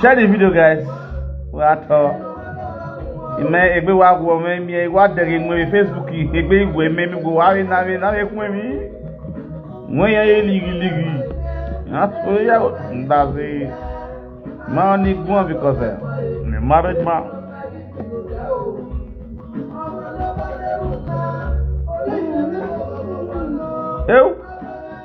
Share the video, guys. What? Uh, ime egbe wa gwo me mi e wa dere mo e facebook yi egbe igwe me mi gwo wa re na re na re kun mi mo yan e ligi ligi na so ya nda se ma ni gwo because eh, me marriage ma eu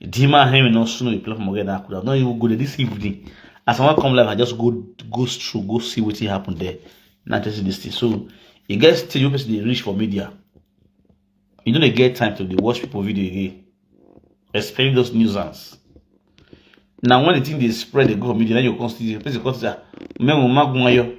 Dima him you no snow you play for Morgan Akuda. No, you go there this evening. As I want come live, I just go go through, go see what happened there. Not just this thing. So you guys still you person they reach for media. You don't get time to dey watch people video again. Especially those nuisance. Now when the thing they spread, they go for media, then you constantly the person constantly. Memo magunwayo.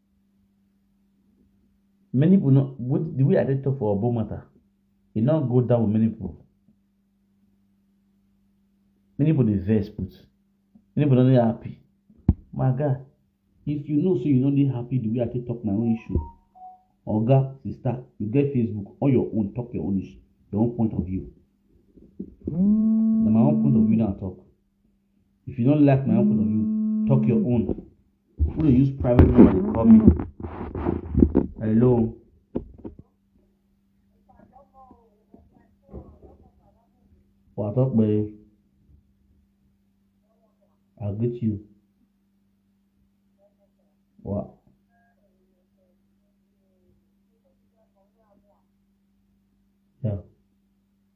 many people no what the way I dey talk for Obo matter, e no go down with many people. Many people dey vex put, many people no dey happy. My guy, if you know say you no dey happy the way I take talk my own issue, oga, sister, you get Facebook on your own talk your own issue, your own point of view. Na my own point of view na I talk. If you don't like my own point of view, talk your own. Who dey use private number dey call me? Hello. Wà á tọ́ pé I greet you. Wà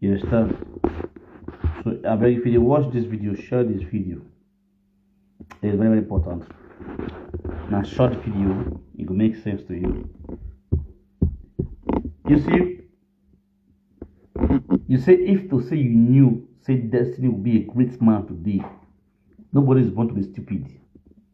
you understand so abeg if you dey watch this video share this video it is very very important na short video e go make sense to you you see you say if to say you knew say destiny would be a great man today nobody is born to be stupid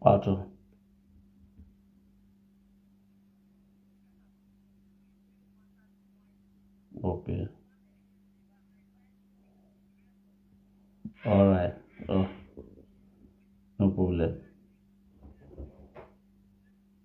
wato ok all right oh no problem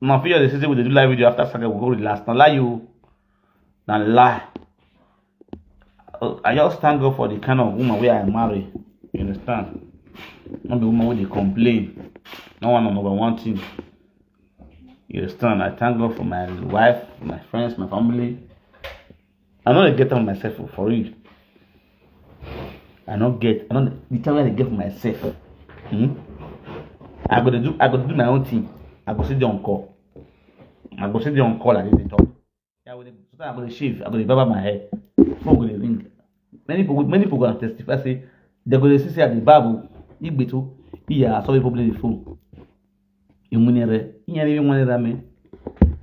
Now, for the season, we do live video after Saga, we go with last. Now, lie you. Now, lie. Oh, I just thank God for the kind of woman where I marry. You understand? Not the woman where they complain. No one number one thing. You understand? I thank God for my wife, my friends, my family. I no dey get am myself o, for real. I no get, I no dey, the time wey I dey get for myself, hmm, I go dey do, I go dey do my own thing, I go still dey on call. I go still dey on call like this dey talk. I go dey, sometimes I go dey shave, I go dey barber my hair, phone go dey ring. Many people, many people go dey testify say, dem go dey see say I dey barb o, igbeto, iya, I saw people blowing the phone. e money re inya re money ra me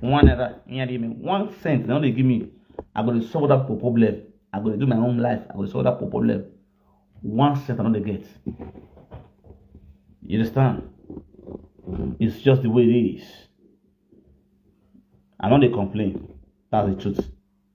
one ra inya re me one cent na only give me i go dey solve that problem i go dey do my own life i go dey solve that problem one cent i no dey get you understand it's just the way it is i no dey complain that's the truth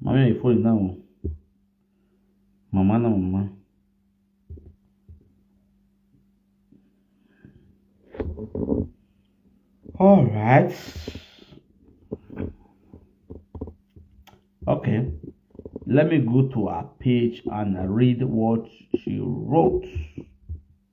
Mami ay fo na o. Mama na mama. All right. Okay. Let me go to her page and read what she wrote.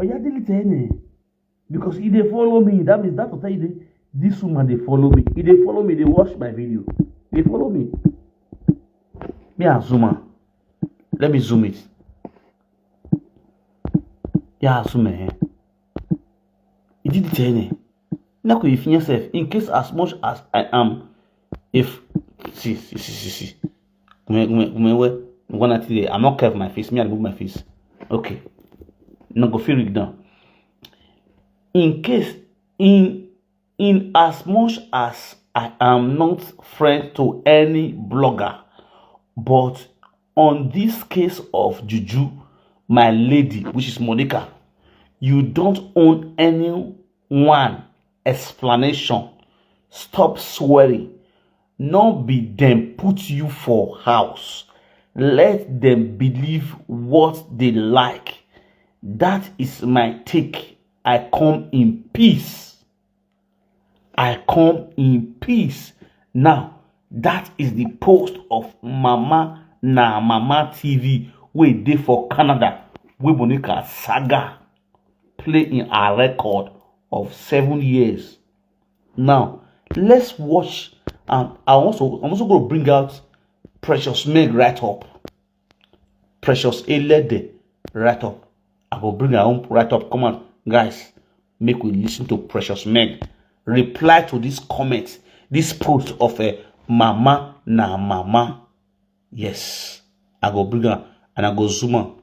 oya delete any because e dey follow me that means that hotel dey this woman dey follow me e dey follow me dey watch my video dey follow me me as woman let me zoom it ya zoom eh e delete any. na ko efi sef in case as much as i am if see see see see see kume kume kume we one night today i'm not curve my face me i remove my face okay na go fit read down in case in in as much as i am not friend to any blogger but on this case of juju my lady which is monica you don't own any one explanation stop swearing no be them put you for house let them believe what they like that is my take i come in peace I come in peace now that is the post of mama na mama tv wey dey for canada wey monica saga play in her record of seven years now let's watch and i also i'm also going to bring out precious meg right up Precious Elede write up. I go bring her own write up. Come on, guys, make we listen to Precious Meg reply to this comment, this post of a eh, mama na mama. Yes, I go bring her and I go zoom on.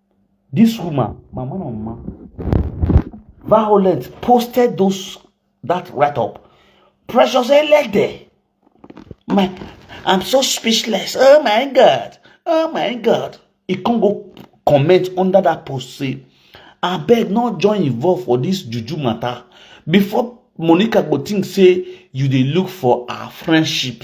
This woman, Mama Mama, Violet posted those that write up. Precious Elede. My, I'm so speechless. Oh my God. Oh my God. He can't go comment under that post. Say, I beg not join involved for this juju matter. Before Monica go think say you dey look for our friendship.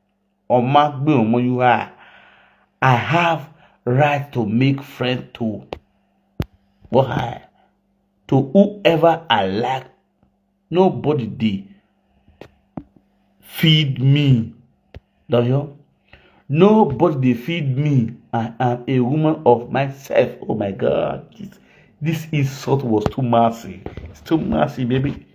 ọma gbé ọmọ yìí wá i have right to make friend to why to whoever i like nobody dey feed me dọyọ nobody dey feed me i am a woman of myself oh my god this, this insult was too massive it's too massive baby.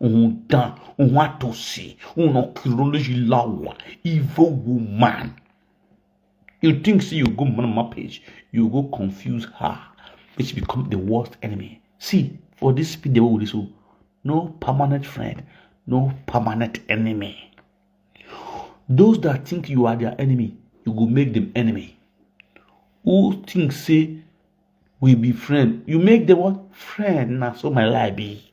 Un dan, un atose, un onkiroloji lawa, ivo woman. You think si you go man ma pej, you go konfuse ha, which become the worst enemy. Si, for dis speed de wou diso, no permanent friend, no permanent enemy. Those that think you are their enemy, you go make them enemy. Who think say we be friend, you make them what? Friend, na so my life be.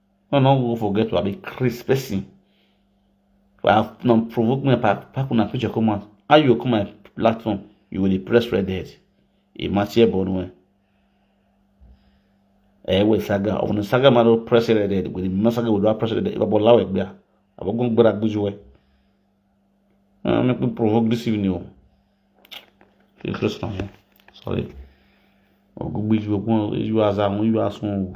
No, no, go forget to be Chris person. Well, no, provoke me, pack, pack una picture come out. How you come my platform? You will press red head. Imagine Bonwe. Eh, we saga. Of the saga, maro press red head. We the saga will press red head. Iba bola we gbia. Abo gun gbera gbujuwe. Ah, make me provoke this evening. Interesting. Sorry. Ogugbe ju ogun ju aza won ju asun o.